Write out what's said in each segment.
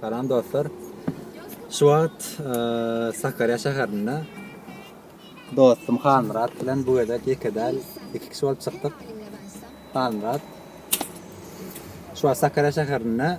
Salam dostlar. Şu wagt e, Sakarya şäherinde dostum Hanmyrat bilen bu gezek ýeke däl, iki kişi bolup çykdyk. Hanmyrat. Şu wagt Sakarya şäherinde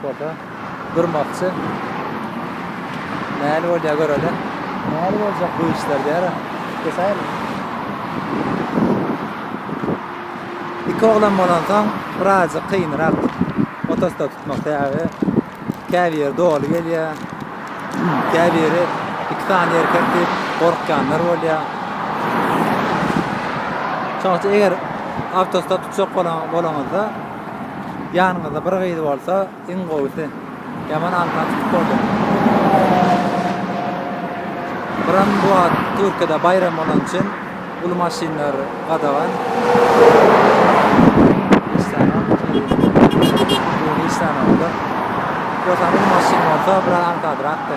Foto. Durmakçy. Näli bolýar göreli. Näli boljak bu işler diýara. Kesäýeli. Iki oglan bolansoň birazjyk kynrak otostop tutmak sebäbi käbir doly gelýär. Käbiri iki sany erkek diýip gorkýanlar bolýar. Şonuň üçin eger awtostop tutjak bolaňyzda Ýanyňyzda bir gyz bolsa iň gowusy. Ýaman alma tutup boldy. Biram bu wagt Türkiýede baýram bolan üçin uly maşynlar gadagan. Ýogsam uly maşyn bolsa biraz aňsadrakdy.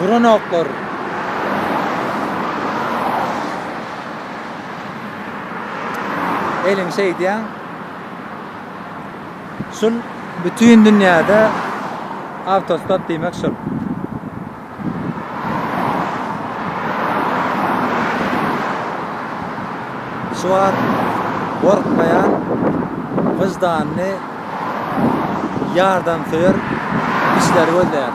Duran oklar. Eliň şeýdýän. Şul bütün dünýäde awtostop diýmek şul. Şu wagt gorkmaýan, wyždanly, ýardamsöýer kişileri gözleýär.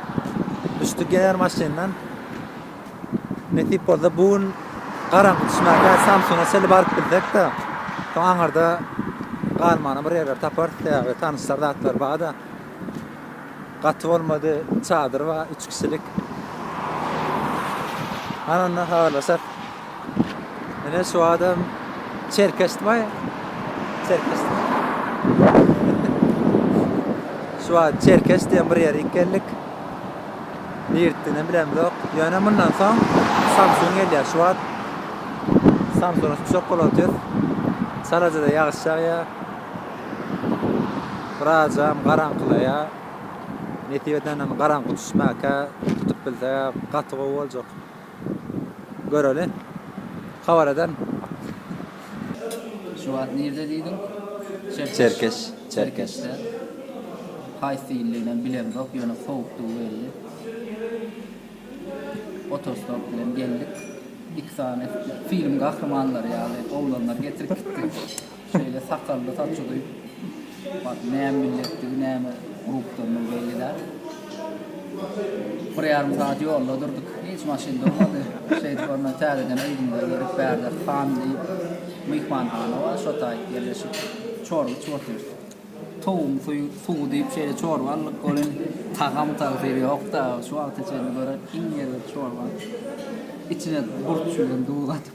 Düşdük ýener maşyndan. Nesip bolsa bu gün garaňky düşmäge Samsuna çenli baryp biljek-de. Soň aňyrda galmana bir ýerler taparys sebäbi tanyşlar zatlar bar-da. Gaty bolmady, çadyr bar, üç kişilik. Ana onda habarlaşarys. Ine şu adam çerkesmi? Çerkes. Şu adam çerkes diýen bir ýere geldik. Nirtdini bilemzok. Ýöne mundan soň Samsun gelýär şu wagt. Samsun uçak bolup otyr. Salajada ýagyş ýagýar. Birazam garaňkylaýar. Nesip edenden garaňky düşmäkä tutup bilse gaty gowy boljak. göreli habar eden. Şu wagt nirde diýdiň? Çerkeş. Çerkeşde. Haýsy illiginem bilemzok, ýöne sowukdygy belli. Otostop bilen geldik. Iki sany film gahrymanlary ýaly oglanlar getirip gitdi. Şeýle sakally saçy duýup, bar näme milletdigi, näme urugdandygy belli däl. Bir ýarym sagat ýolda durduk. Hiç maşyn durmady. Şeýdip ondan täzeden yzymyza gelip, bärde Han diýip, myhmanhana bar, şo taýyp ýerleşip, çorba içip otyrys. Towugyň suýy suwy diýip şeýle çorba aldyk. Ol hem tagam tagsyr ýok-da, şu wagta çenli gören iň erbet çorbam. Içine burç bilen duz atyp.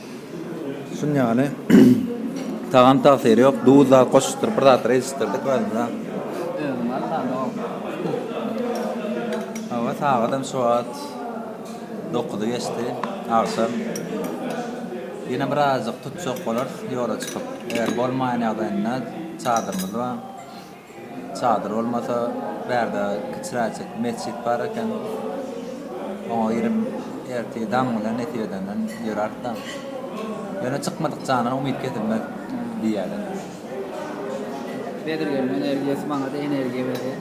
Şun ýaly tagam tagsyry ýok. Duz zat goşupdyr, bir zatlar edişdirdik özümize. Özüm walla dok. Hawa, sagadam şu wagt dokuzy geçdi, agşam. Ýene birazajyk tutjak bolarys ýola çykyp. Eger bolmaýan ýagdaýynda çadyrymyz bar. Çadyr bolmasa, bärde kiçiräjik metjit bar eken. Oňa girip, ertir daň bilen nesip edenden ýöräris-de. Ýöne çykmadyk jandan umyt kesilmez diýýärler. Bezirgeniň energiýasy maňa-da energiýa berýär.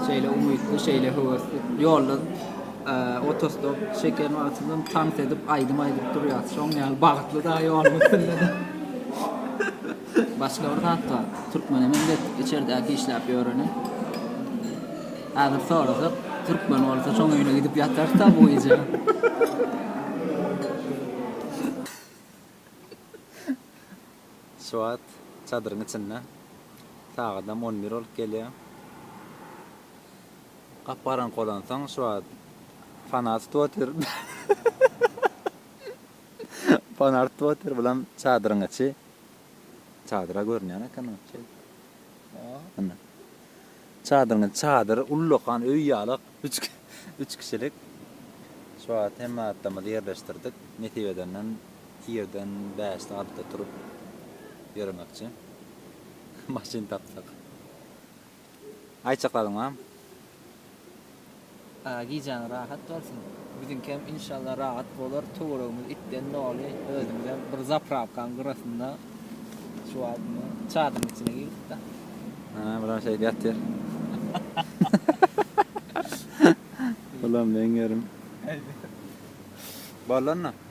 Şeýle umytly, şeýle höwesli. Ýolda otostop çeken wagtymyzam tans edip, aýdym aýdyp durýarys. Şonuň ýaly bagtly dagy ýoluň üstünde-de. Başga bir zat bar. Türkmenem elbet içerdäki işläp ýöreni. Häzir sorasak, türkmen bolsa şoň öýüne gidip ýatar-da bu gije. Şu wagt çadyryň içinde sagadam on bir bolup gelýär. Gap-garaňky bolansoň şu wagt fanar tutup otyr. Fanar tutup otyr, bulam çadyryň içi. Çadyra görünýän eken o çeý. Ynha. Çadyryň çadyr ullakan öý ýaly üç üç kişilik. Şu wagt hemme zatlarymyzy ýerleşdirdik. Nesip edenden irden bäşde altyda turup ýöremekçi. Maşyn tapsak. Aýtjaklaryň barmy? Gijäň rahat bolsun. Biziňkem inşallah rahat bolar. Töweregimiz itden doly. Özümizem bir zaprawkanyň gyrasynda şu wagt indi çadyryň içine girdik-de. Ana bular şeýdip ýatyr. Bulam meňerim. Boldy onda.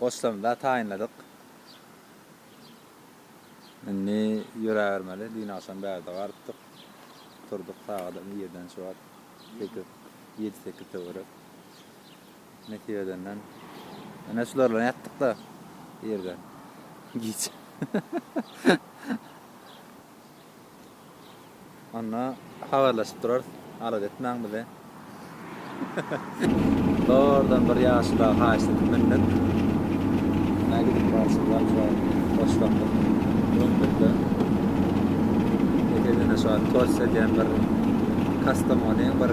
Goşlarymyzy-da taýynladyk. Indi ýöräbermeli. Düýn agşam bärde garypdyk. Turduk sagadam irden şu wagt. Sekiz, ýedi-sekiz töwerek. Nesip edenden. Ene şular bilen ýatdyk da irden. Giç. Onda habarlaşyp durarys. Alada etmäň bizi. Zordan bir ýaşula haýyşt edip mündik. Näme gidip barşyň ýaşula hoşlandyk. Mündik-de. Ýeke-de şu an tors edýän bir Kastamony bir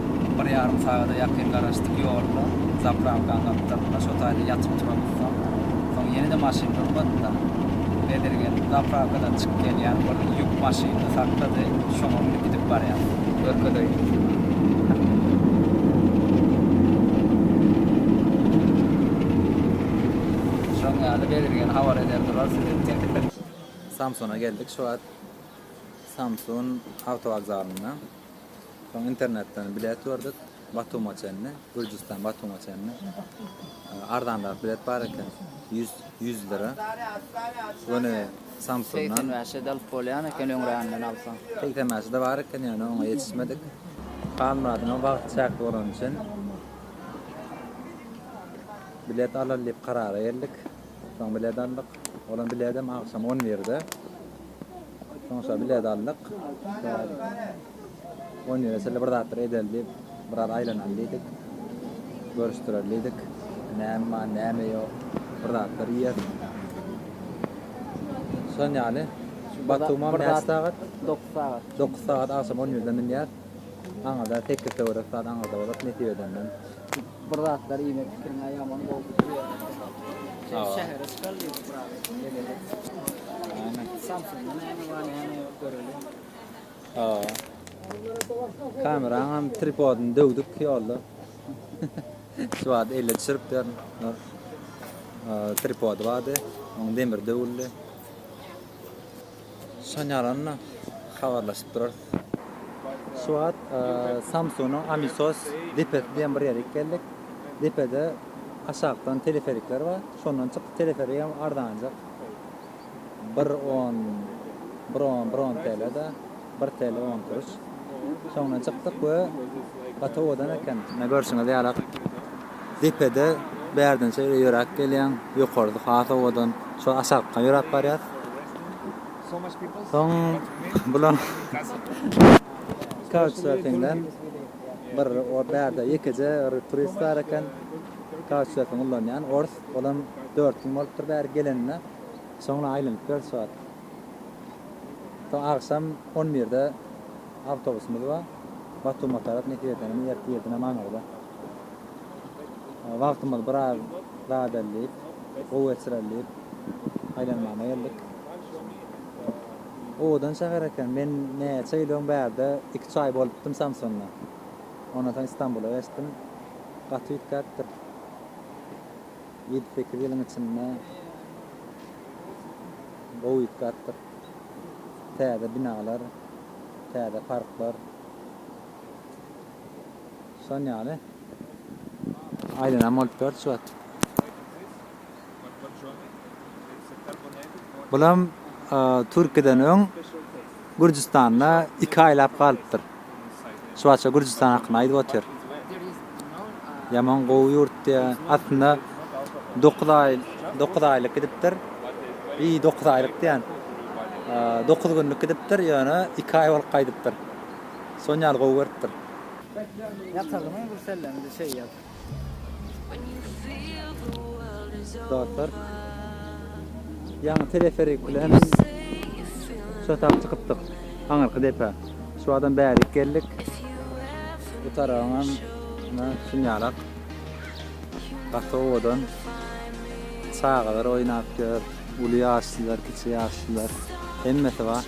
Bir ýarym sagada ýakyn garaşdyk ýolda zaprankanyň gapdalynda şo taýda ýatyp turamyzsoň, soň ýene-de maşyn durmady-da. Bezirgen zaprankadan çykyp gelýän bir ýük maşynyny saklady, şoňa münüp gidip barýar. Şoň ýaly Bezirgeni habar eder durar size. Samsuna geldik şu wagt. Samsun awtowokzalynda. Soň internetden bilet gördük. Batuma çenli, Gürjüstan Batuma çenli. Arzanrak bilet bar eken. 100 100 lira. Göni Samsundan. Sen mäşe dalyp bolýan eken öňränden alsaň. Sen mäşe de bar eken ýöne oňa ýetişmedik. Halmyradyň wagty çäkli bolany üçin bilet alyl diýip karara geldik. Soň bilet aldyk. Olam biletem agşam 11-de. Soňuşa bilet aldyk. On ýüze çenli bir zatlar edeli diýip, biraz aýlanaly diýdik. Görüşdireli diýdik. Näme bar, näme ýok. Bir zatlar iýer. Şon ýaly. Şu Batumam näçe sagat? Dokuz sagat. Dokuz sagat agşam on ýüze münýär. Aňyrda tekge töwerek zat aňyrda bolat nesip edenden. Bir zatlar iýmek pikiriňe ýaman gowy pikir ýa-da şähere çykar diýip bir adam geleli. Aýne. Samsung-da näme bar näme ýok göreli. Hawa. Kameraňam tripodyny döwdük ýolda. Şu wagt elle düşüripdir. Tripody bardy. Oň demiri döwüldi. Sonýarynda habarlaşyp durarys. Şu wagt Samsunyň Amisos depesi diýen bir ýere gidip geldik. Depede aşakdan teleferikler bar. Şondan çykyp teleferigem arzanjak. Bir on bir on bir on TL-de bir TL on kuruş. Şoňdan çykdyk we gaty owadan eken. Mine görşüňiz ýaly. Depede bärden şeýle ýöräp gelýäň, ýokarysy has owadan. Şol aşakdan ýöräp barýas. Soň bular kautçserfingden bir o bärde ýekeje bir turist bar eken. Kautçserfing ullanýan ors. Olam dört gün bolupdyr bäri gelenine. Soňra aýlanyp ýör şu wagt. Soň agşam on birde awtobusymyz bar. Batuma tarap nesip edenini ertir irden amanarda. Wagtymyz biraz zadellip, gowy geçirellip aýlanmana geldik. Owadan şäher eken. Men näçe ýyl öň bärde iki-üç aý bolupdym Samsunda. Ondan soň Istanbula geçdim. Gaty üýtgäpdir. Ýedi-sekiz ýylyň içinde gowy üýtgäpdir. Täze binalar, täze parklar. Şon ýaly. Aýlanam bolupdyr şu wagt. Bulam Türkiden öň Gürjistanda iki aýlap galypdyr. Şu wagtça Gürjistan hakynda aýdyp otyr. Ýaman gowy ýurt diýýär. Aslynda 9 aý, 9 aýlyk gidipdir. Bi 9 aýlyk diýýän. 9 günlük gidipdir, ýöne 2 aý bolup gaýdypdyr. Şon ýaly gowy görüpdir. Ýatalymy bir sellemizi çeýýäs. Dostlar. Ýaňy teleferik bilen şu tak çykypdyk. Aňyrky depe. Şu adam bärik geldik. Bu tarabyňam ina şunýalak. Gaty owadan. Çagalar oýnap ýör. Uly ýaşlylar, kiçi ýaşlylar. Hemmesi bar.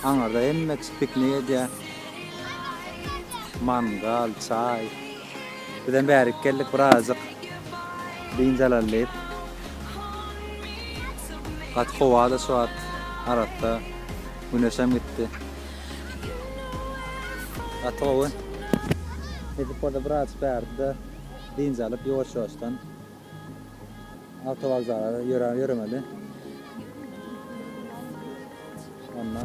Aňyrda hemme piknik edýär. Mangal, çaý. Bizem bärik geldik birazajyk dynç alaly diýip. Gaty howa-da şu wagt. Arassa güneşem gitdi. Gaty gowy. Edip orada birazajyk bärde dynç alyp ýuwaş-ýuwaşdan. Awtowokzala ýöräp ýöremeli. Onda